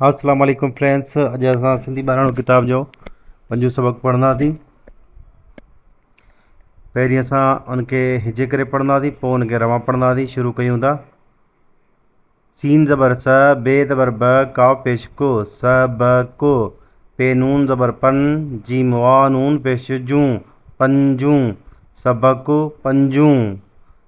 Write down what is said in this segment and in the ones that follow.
السلام عليڪم فرينڊس اڄ اسان سنڌي ٻاراڻو ڪتاب جو پنجو سبق پڙهنداسين پهرين اسان ان کي هجي ڪري پڙهنداسين پوء ان کي رواں پڙهنداسين شروع ڪيون ٿا سين زبر س ب زبر ب قاف پيش ڪ س ب ڪ پ نون زبر پن جيم واء نون پيش جون پنجون سبق پنجون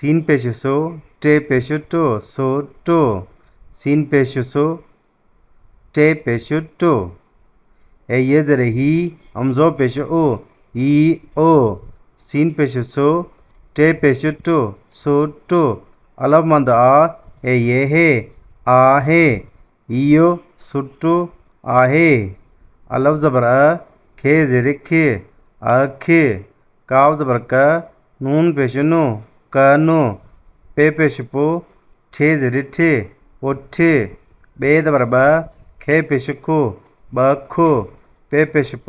سين پيش سو، ٽي پيش ٽو، سو ٽو، سين پيش سو، ٽي پيش ٽو. اي ي زير هي، همزو پيش او، ي او، سين پيش سو، ٽي پيش ٽو، سو ٽو، الف مد آ، اي ي هي، آ هي. هيء سٽ آهي. الف زبر ا، کي زير ک، اک، ڪاف زبر ڪ، نون پيش نو، ڪهن، پ پيش پ، ٺ زير ٺ، پٺ، ٻي زبر ٻ، کي پيش کو، ٻک، پ پيش پ،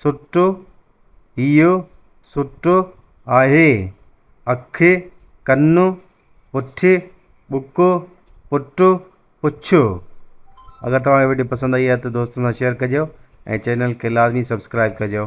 سٽو اهو سٽو آهي اک ڪن پٺي ٻڪ پٽ پڇ اگر توهان کي وڊيو پسند آئي آهي ته دوستن سان شيئر ڪجو ۽ چينل کي لازمي سبسڪرائب ڪجو